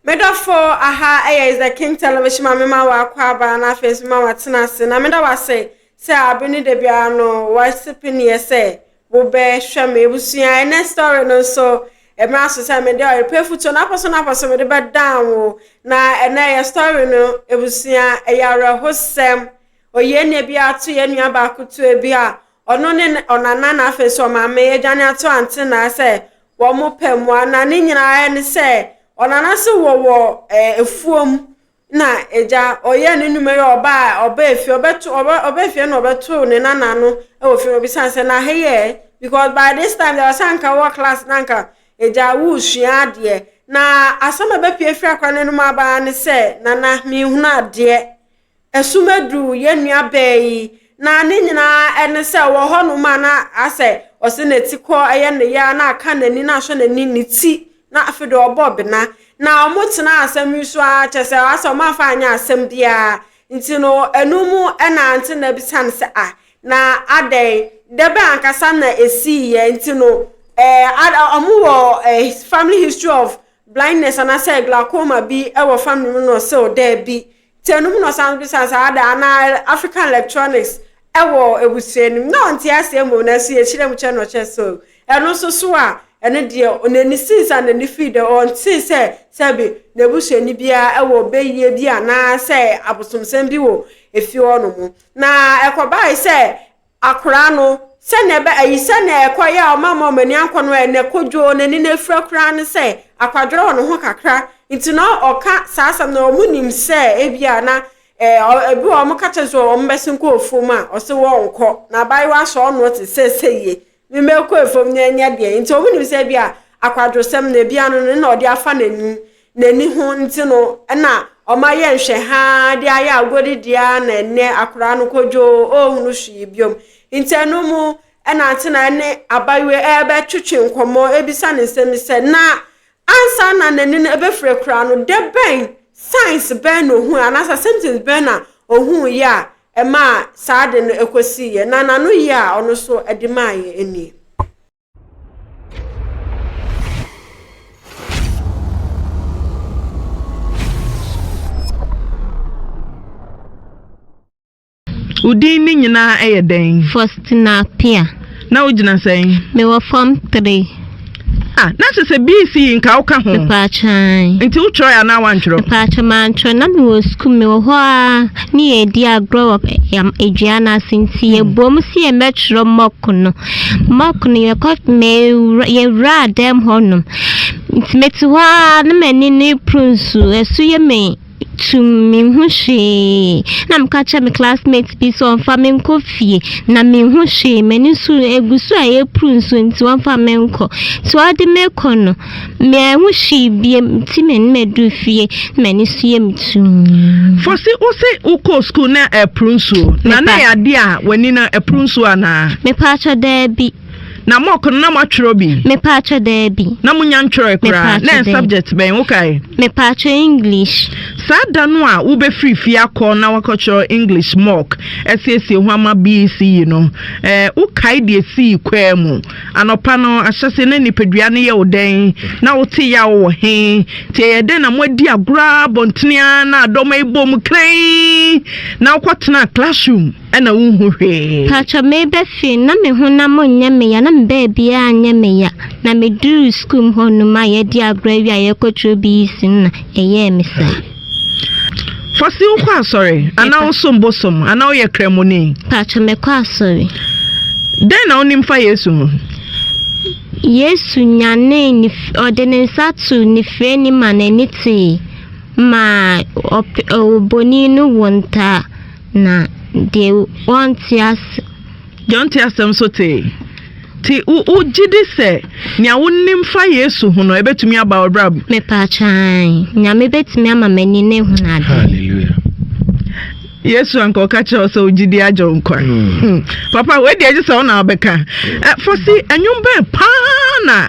Me dɔfo, aha yɛ Is the King Television ma mema wo akwaaba na afei nso mema wo atena ase na meda wo ase sɛ abe ne da biara no wɔasipi ne yɛ sɛ wobɛhwɛ me abusua ɛnɛ story no nso ɛmira so sɛ mede ɔyepɛ futuo na apɔso na apɔso mede bɛdan wo na ɛnɛ yɛ story no abusua ɛyɛ awerɛhosɛm oyie nne bi ato yɛ nua baako tuo bi a ɔno ne ɔnana na afei nso ɔmaame adwane ato ante na sɛ Wɔpɛ mmoa, na ne nyinaa ne sɛ ɔnana se wɔwɔ afuom na agya ɔyɛ ne nnwuma yi ɔba a ɔba efie ɔbɛto ɔbɛ ɔba efie na ɔbɛto ne nana no wɔ fie ɔbisa sɛ na ha yɛ because by this time deɛ ɔsɛ anka wɔ class na anka agya wosua adeɛ na asɛm a ɛbɛpie firi akora no anom aba ne sɛ nana mehunu adeɛ. Ɛsum adu yɛn nua bɛɛ yi, na ne nyinaa ne sɛ ɔwɔ hɔnom a na asɛ ɔsɛ n'ati kɔ ɛyɛ ne yɛ a na aka n'ani na asɔ n'ani ne ti na afei deɛ ɔbɔ bena na wɔn tena asɛm yi so a kyɛ sɛ asɛ wɔn afa anyɛ asɛm biara nti no ɛnu mu ɛna nti na bisan sɛ a na adɛn dɛbɛ ankasa na esi yɛ nti no ɛɛ ada wɔn wɔ ɛɛ family history of blindness anasɛ glaucoma bi ɛwɔ family mu na ɔsɛ ɔdɛ bi. Tsir no ho na ɔsan bisaa saa dɛ, Ana African electronics wɔ ebusua no mu? Nna ɔnntse ase mbom, naaso yɛkyerɛɛ mu kyɛɛ no na ɔkyerɛɛ so no so so a, ɛno deɛ n'ani sii saa na n'ani fii dɛ ɔnntse sɛ sɛbe n'ebusuanyi biara wɔ bayie bi anaa sɛ abosomsɛm bi wɔ efie hɔnom. Na ɛkɔbae sɛ Akora no, sɛnea ɛbɛ ayi sɛnea ɛkɔ yɛ a ɔma ma ɔmani ankɔ no ɛ na kodwoo n'ani na afira koraa ne sɛ akwadworɔ wɔ ne ho kakra nti na ɔka saa asɛm no ɔmo nim sɛ ebi a na ɛ ebi wɔ ɔmo ka kyɛ sɛ ɔmo bɛsen kɔ ofom a ɔse wɔnkɔ na abaayewa sɛ ɔno te sɛ sɛ yie me mɛkɔ efom na ɛnyɛ deɛ nti ɔmo nim sɛ ebi a akwadwosɛm no ebi ano no na ɔde afa n'anim N'ani ho nti no na ɔma yɛ nhwɛ haa de ayɛ agodi dea na ɛnɛ akoraa no kodwoo ɔɔhunu hwee biom. Nti ɛno mu na ante na ɛne abayewa yi ɛɛbɛ twetwe nkɔmɔ ɛɛbisa no nsɛm bi sɛ na ansa na n'ani no ɛbɛfire koraa no dɛ bɛn, signs, bɛn na ɔhuu anaasɛ symptoms bɛn na ɔhuu yɛ a ɛmaa saa ade no ɛkɔsii yɛ na n'ano yɛ a ɔno nso ɛde maa yɛ nie. Wo din ne nyinaa yɛ dɛn? Faustina Apia. Na wogyina sɛn? Mewɔ fam tere. Ah, na sɛ sɛ BC yi nka woka ho. Mepaakyɛn. Nti wotwerɛ yɛ anaa wantwerɛ? Mepaakyɛn mantwerɛ na mewɔ sukuu mewɔ hɔ a ne yɛdi agorɔ wɔ yam adua no ase nti yɛbom si yɛmmɛtwerɛ mɔko no. Mock no yɛkɔ mewura yɛwuraa dɛm hɔnom nti mete hɔ ara na m'ani no repro nsu ɛso yɛ me tum menhu hwee na meka kyerɛ me classmate bi sɛ ɔmfa me nkɔ fie na menhu hwee m'ani so egu so a ɛrepro nsu nti wɔmfa me nkɔ nti wɔde me kɔ no Mean ho hwee biem nti m'anim aduru fie na m'ani so yɛ me tumm. Fosi wo se wo kɔɔ school na ɛporo nsuo na na ɛyɛ adeɛ a w'ani no ɛporo nsuo anaa? Mepaakyɛ daabi. Na mock no na mo atwerɛ bi? Mepaakyɛ daabi. Na mo nya ntwerɛ koraa? Na ɛyɛ subject bɛn wo kae? Mepaakyɛ English. Saa da no a wo bɛ firi fie akɔ na wakɔ twerɛ English mock ɛsiesie ho ama BECE no ɛɛ wo kae deɛ esii kwaa mu? Anɔpa no ahyɛse na nipadua no yɛ wo dɛn? Na wote yaw wɔ he? Nti ɛyɛ dɛn na moadi agorɔ ara abɔntene ara na dɔm yi bɔ mu krann na wokɔtena classroom na wonhu hwee? Paatwɔ meba fie na me honam nyɛ me ya na me baabiaa nyɛ me ya na meduruu school mu hɔ nom a yɛadi agorɔ awie a yɛrekɔtwerɛ BEC no na ɛyɛɛ me saa. Fosi wokɔ asɔre anaa wosom bosom anaa woyɛ kramoni? Paatwa mekɔ asɔre. Dɛn na wonim fa Yesu ho? Yesu nyanee ne ɔde ne nsa to ne firani ma n'ani tee ma oboni no wo ntaa na deɛ wɔnte ase. Deɛ ɔnte asɛm so tee. Nti wo wo gyidi sɛ nea wo nim fa Yesu ho no ɛbɛtumi aba wo brab. Mepaakyɛ ae nyame bɛtumi ama mani no ahunu ade. Hallelujah. Yesu anka ɔka kyerɛ wo sɛ wo gyidi agye wo nkwa. Hmm. Papa wei deɛ gye sɛ wo na wobɛka. Ɛ, Fosi, ɛnwom bɛn paa na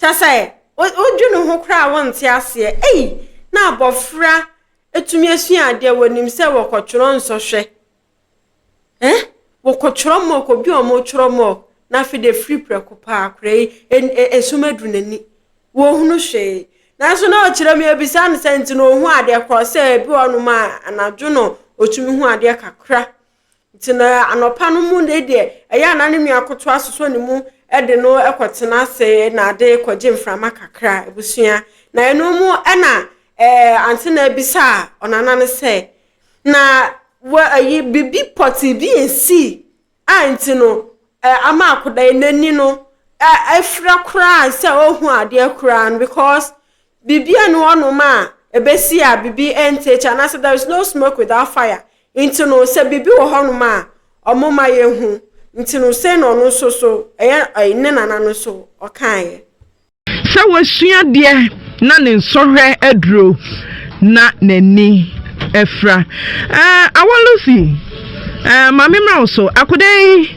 Kyɛ sɛ wodwe no ho koraa a wonte aseɛ. Ei! Na abɔfra tumi asua adeɛ, wɔnim sɛ wɔkɔtwerɛ nsɔhwɛ. Eh? Wɔkɔtwerɛ mock, obi a wɔtwerɛ mock, na afei de firi prɛko paa akora yi, esum aduru n'ani. Wɔhunu hwee. Nanso na ɔkyerɛ mu yɛbisa no sɛ nti na ɔhu adeɛ korɔ sɛ ebi wɔ nom a anadwo no ɔtumi hu adeɛ kakra. Nti na anɔpa no mu ne deɛ ɛyɛ a na ne nua koto asosɔ ne mu de no kɔtena ase na ade kɔgye mframa kakra abusua. Na ɛno mu ɛna ɛɛ ante na abisa a ɔnana no sɛ na wɔ ayi bibi pɔte bi nsi a nti no ɛɛ ama akoda yi n'ani no afira koraa sɛ ɔhu adeɛ koraa no because bibi ɛni hɔ nom a ɛbɛsi a bibi ɛnte akyi anaasɛ there is no smoke without fire Nti no, sɛ biribi wɔ hɔnom a wɔma yɛhu, nti no, sei na ɔno nso so, ɛyɛ ɛyi, ne nana no nso, ɔkaeɛ. Sɛ wasua deɛ na ne nsɔhwɛ aduro na n'ani afira. Ɛɛ, Awa Lucy, ɛɛ, ma memmra wo so, akoda yi.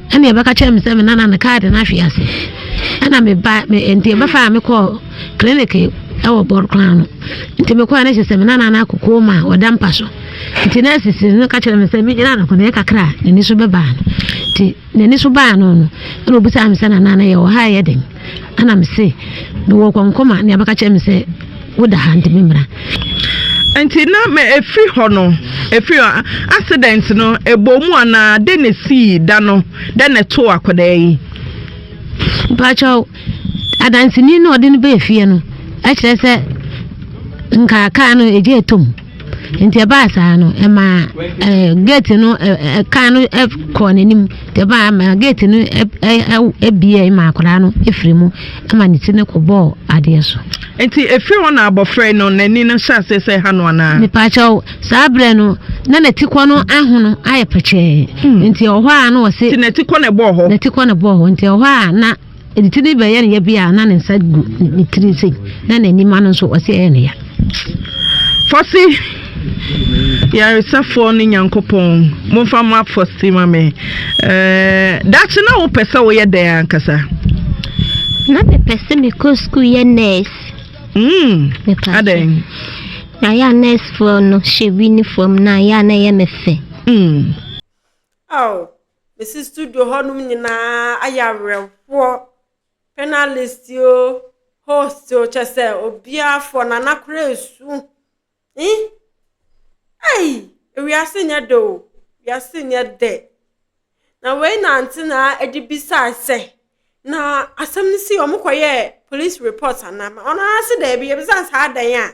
Ɛna yɛbɛka kyerɛɛ me sɛ me nana no kaa de no ahwe ase. Ɛna me ba me nti ɛbɛfa a mekɔɔ clinic ɛwɔ bɔrokora ano. Nti mekɔɛ no kyerɛ sɛ me nana no akokoo ma ɔda mpa so. Nti na asisi no ka kyerɛ me sɛ megyina no kɔnɛ kakra a n'ani so bɛbaa no. Nti n'ani so baa no no ɛna obisaa me sɛ nana no yɛ wɔ ha yɛ den. Ɛna me se, Mewɔ kɔnkɔm a nea bɛka kyerɛ me sɛ woda ha nti memmra. Nti na ma ɛfiri hɔ no, ɛfiri hɔ, accident no, ɛbɔɔ mu anaa? Dɛn na ɛsii da no? Dɛn na ɛtoo akwadaa yi? Mpakyɛw, adanseni no a ɔde no baa fie no kyerɛ sɛ nka kaa no egya ɛtɔ mu. nti ɛbaa saa no ɛmaa ɛɛ gate no ɛɛ kan no ɛkɔɔ n'anim nti ɛbaa ɛma gate no ɛbie ɛma akwadaa no efiri mu ɛma ne ti no kɔ bɔɔ adeɛ so. nti efiri hɔ na abɔfra yi no n'ani no hyɛ ase sɛ ha no anaa. mipaakyɛw saa abirɛ no na n'ati kɔ no ahono ayɛ pɛkyɛɛ hmm. nti ɔhɔ a na ɔsi. ti n'ati kɔ na ɛbɔɔ hɔ. n'ati kɔ na ɛbɔɔ hɔ nti ɔhɔ a na. Enti ti no bɛyɛ no ya bi a na ne nsa gu ne tiri sei na n'anim ano nso ɔsi ɛyɛ no ya. Fɔse yaresafoɔ ne Nyankopɔn momfa mo afɔse ma me. Ɛɛ dakye na wopɛ sɛ woyɛ dɛn ankasa? Na mepɛ sɛ mekɔ sukuu yɛ nurse. Mm. Adɛn? Na yɛ nursefoɔ no hyɛ winiform na yɛ a na ɛyɛ me fɛ. Mm. Oh, Mesi studio hɔnom nyinaa ayɛ awerɛhoɔ panelist o host o kyɛ sɛ obiara fɔ nana kora esu yi ɛyi ewiase nyɛ dɛ o wiase nyɛ dɛ na wei na nti na ɛde bisaa sɛ na asɛm no si wɔn kɔ yɛ police report anaa wɔn ara se dɛbi yɛbisa saa dɛn a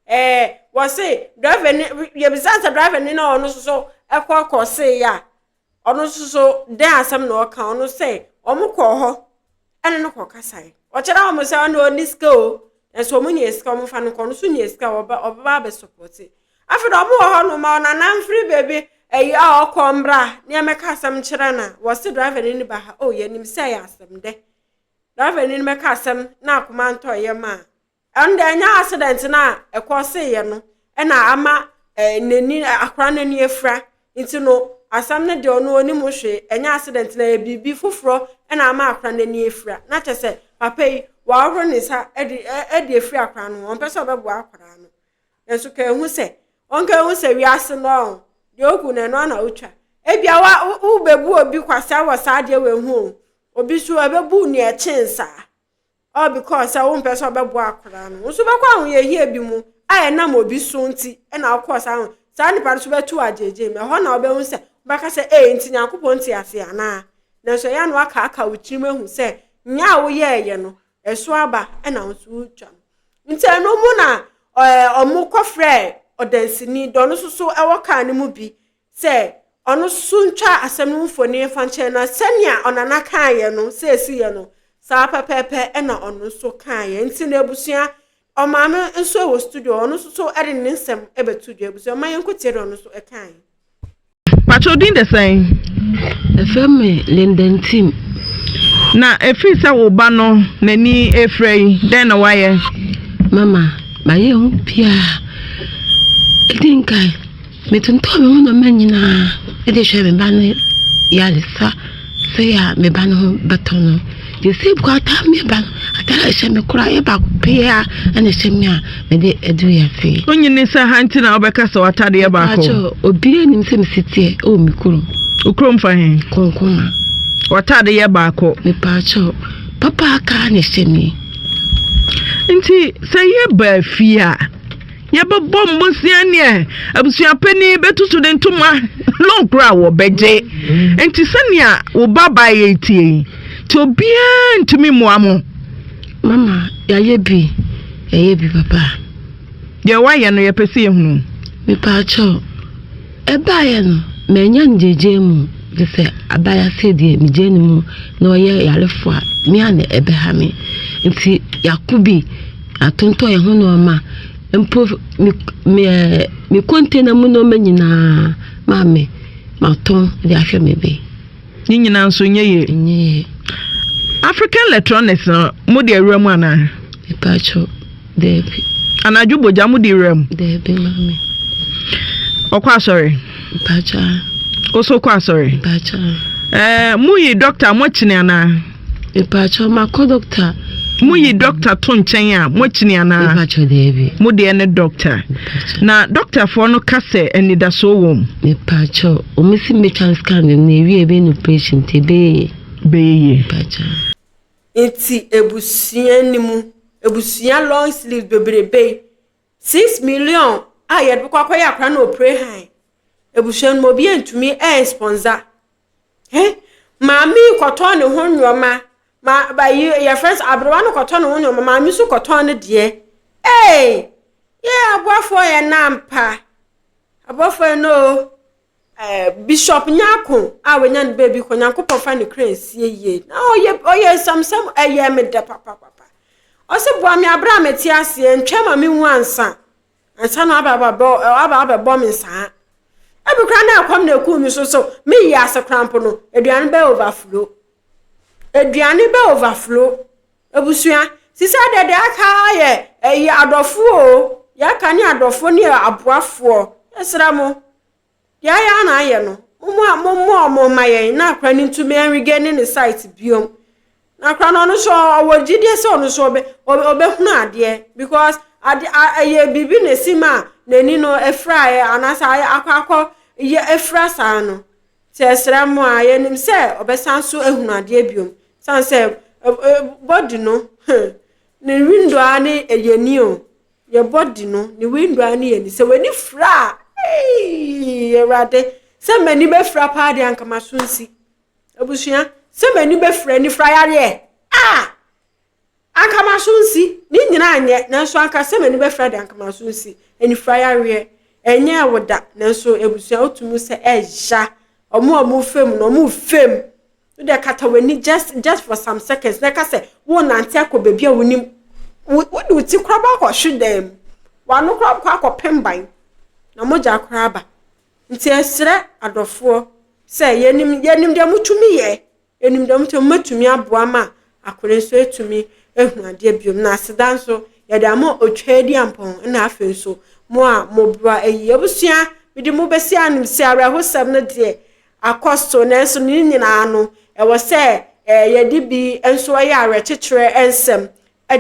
ɛɛ wɔse driver ni yɛbisa sɛ driver ni na ɔno soso ɛkɔ kɔ se yɛ a ɔno soso dɛn asɛm na ɔka ɔno sɛ wɔn kɔ hɔ ɛne no kɔ kasa yi ɔkyerɛ wɔn sɛ ɔno ɔni sika o ɛso wɔn nyɛ sika wɔn fa no kɔ ɔno so nyɛ sika ɔba ɔbɛba abɛ sɔpɔte afei na wɔn wɔ hɔ nom ma ɔnana mfiri beebi ɛyi a ɔkɔ mbra nneɛma ka asɛm kyerɛ na wɔse driver ni ba ha o yɛnim sɛ yɛ asɛm dɛ driver ni bɛka asɛm na akoma ntɔ yɛ maa. Ɛnde ɛnyɛ accident no a ɛkɔseeɛ no na ama eh, n'ani akora no ani afira nti no asɛm no deɛ ɔno ɔnim hwee ɛnyɛ accident no ɛyɛ biribi foforɔ na ama akora no ani afira na kyɛ sɛ papa yi wɔahoro ne nsa de de afiri akora no ho ɔmpɛ sɛ ɔbɛboa akora no nanso ka ɛhu sɛ ɔnka ɛhu sɛ wiase no ɔho deɛ ɔgu no ɛno ana wotwa ebia wobɛbu obi kwasea wɔ saa deɛ wɔahu o obi so ɛbɛbu nea ɛkyen saa All because sɛ wompɛ sɛ ɔbɛboa akwadaa no. Wo nso wobɛkɔ ahoyɛhia bi mu a ɛnam obi so nti na wokɔɔ saa ho. Saa nipa no so bɛto wo agyegye mu. Ɛhɔ na wobɛhu sɛ wobɛka sɛ ee nti Nyankopɔn te ase anaa. Nanso ɛyɛ a na wakaaka wo tirim ahu sɛ nyɛ a woyɛɛyɛ no ɛso aba na wo nso wotwa no. Nti ɛno mu na wɔkɔfrɛɛ ɔdansini, dɔ no soso wɔ kaa no mu bi sɛ ɔno so ntwa asɛm no mfoni mfa nkyɛn na sɛnea ɔnana kaeɛ no sɛ ɛsi yɛ no saa pɛpɛɛpɛ ɛna ɔno nso kaeɛ nti na abusua ɔmaame nso wɔ studio ɔno nso so ɛde ne nsɛm ɛbɛto dwa abusua ɔma yɛn nkotie na ɔno nso ɛkaeɛ. Patrɔ din de sɛn? Ɛfɛ me Linden Tim. Na ɛfiri sɛ wo ba no n'ani ɛfira yi dɛn na woayɛ? Mama, mayɛ ho biaa. Ɛdi nkan. Metontɔɔ me ho nneɛma nyinaa de hwɛɛ me ba no yaresa sɛe a me ba no ho bɛtɔ no. Yosef kɔ ataa me ba no, ataa a ɛhyɛ me koraa yɛ baako pɛ a ɛna ɛhyɛ me a mede adu wiase. Onyi ne nsa ha nti na wobɛka sɛ w'ataade yɛ baako. Mpakyɛ obiara nim sɛ mesi teɛ ɛwɔ me kurom. Okurom fa he? Konkoma. W'ataade yɛ baako. Mepakyɛ papa aka na ɛhyɛ me. Nti sɛ yɛbaa fie a. Yɛbɛbɔ mmɔsia nea abusua panin bɛtu so de ntoma lɔɔgoro a wɔbɛgye. Nti sɛnea wo ba baeɛ tie yi, nti obiara ntumi mmoa mo. Mama, yɛayɛ bi, yɛayɛ bi papa. Deɛ woayɛ no yɛpɛ sɛ yɛhunu. Mepaakyɛw. Ɛbaeɛ no, mannya ngyegyeɛ mu, gye sɛ abaya sɛdeɛ megyaa ne mu na ɔyɛ yarefoɔ a, me a na ɛbɛha me. Nti yɛako bi, yɛatontɔn yɛn ho nneɛma, mpo me me ɛɛ me container mu nneɛma nyinaa, maame, matɔn de ahwɛ me be. Ne nyinaa nso nyɛ yie. Nyɛ yie. African electronics no mo de awura mu anaa? Mpatsɔ dɛbi. Anadwo bogya mo de awura mu? Dɛbi maame. Ɔkɔ asɔre? Mpatsɔ. Oso kɔ asɔre? Mpatsɔ. Ɛɛ eh, mo yi dɔkta mo akyini anaa? Mepaakyɛw makɔ dɔkta. Mo yi dɔkta to nkyɛn a mo akyini anaa? Mepaakyɛw daabi. Mo deɛ ne dɔkta. Na dɔktafoɔ no ka sɛ anidasoɔ wɔ mu? Mepaakyɛw, wɔn si metwa scan no na ewie ebe no operation nti ebe yɛ yie. Bɛyɛ yie. Mepaakyɛw. Nti abusua no mu abusua long sleeves bebrebe yi six million a yɛde bɛkɔ akɔyɛ akora no operation abusua no mu obi antumi ɛnsponsor. He, maame yi kɔtɔn ne ho nneɛma. Ma, ba yi, yɛfrɛ sɛ aberewa no kɔtɔn ne ho nneɛma. Maame nso kɔtɔn ne deɛ. Ee, yɛ aboafoɔ yɛ nna mpa. Aboafoɔ yɛ nna o. Eh, Bishop Nyako a wanya ne baabi kɔ, Nyankopɔn fa ne kra nsie yie. Na ɔyɛ, ɔyɛ nsɛmsɛm, ɛyɛ me dɛ papapapa. Ɔse boa me aberɛ a mete aseɛ, ntwɛn ma menwu ansa. Ansa na waba abɛbɔ, waba abɛbɔ me saa. Ebi koraa na ɛkɔm na ekuu me so so. Me yi ase koraa mpo no, aduane bɛ overflow. Aduane bɛ overflow. Abusua, sisa dɛ deɛ aka yɛ ɛyɛ adɔfoɔ o. Yɛaka ne adɔfoɔ ne aboafoɔ. Yɛsrɛ mo. Dea ya na ayɛ no, momo a momo ɔmo mma yɛn na akora no ntumi ɛnrege ne ne site biom. Na akora no ɔno so ɔwɔ gyidie sɛ ɔno so ɔbɛ ɔbɛhunu adeɛ because ade a ɛyɛ biribi na esi ma n'ani no afiraeɛ anaasɛ ayɛ akɔ akɔ yɛ afira saa no. Nti ɛsrɛ mo a yɛnim sɛ ɔbɛsan so ahunu adeɛ biom. San sɛ body no hmm ne window a ne ɛyɛ ni o. yɛ body no ne window a ne yɛ ni sɛ w'ani fira a eii awurade sɛ m'ani bɛfira paa deɛ anka m'aso nsi abusua sɛ m'ani bɛfira anifira yareɛ a anka m'aso nsi ne nyina anyɛ nanso anka sɛ m'ani bɛfira deɛ anka m'aso nsi anifira yareɛ ɛnyɛ ɛwo da nanso abusua wotumi sɛ ɛya ɔmo a ɔmo fam no ɔmo fam Wode kata w'ani just just for some seconds na ɛka sɛ worenante akɔ baabi a wonim. Wode wo ti koraa ba kɔhwe dan mu. W'ano koraa bɛkɔ akɔpem ban na mogya koraa aba. Nti ɛsrɛ adɔfoɔ sɛ yɛnim yɛnim deɛ motumi yɛ, yɛnim deɛ motumi mobɛtumi aboa ma akore nso atumi ahu adeɛ biom na aseda nso yɛde ama otwaa di ampɔn na afei nso mo a moboa ayi abusua mede mo bɛsi anim sɛ awerɛhosɛm no deɛ akɔ so, nanso ne nyinaa no, ɛwɔ sɛ yɛde bi nso yɛ awerɛkyekyerɛ nsɛm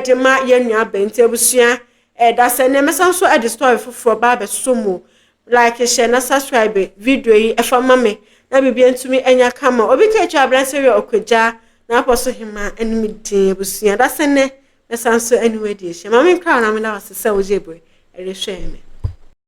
de ma yɛn nuabaa. Nti abusua, ɛda sɛ nnɛ mɛsan nso de story foforɔ ba abɛso mu. Like hyɛ na subscribe video yi ɛfa ma me na biribi ntumi anya kama. Obi ka atwa abranteɛ wia ɔkwagya na apɔ so hema ɛne me din abusua. Da sɛ nnɛ mɛsan nso ɛne wadi ahyia. Maame nkra na meda wase sɛ wogye berɛ ɛrehwɛ me.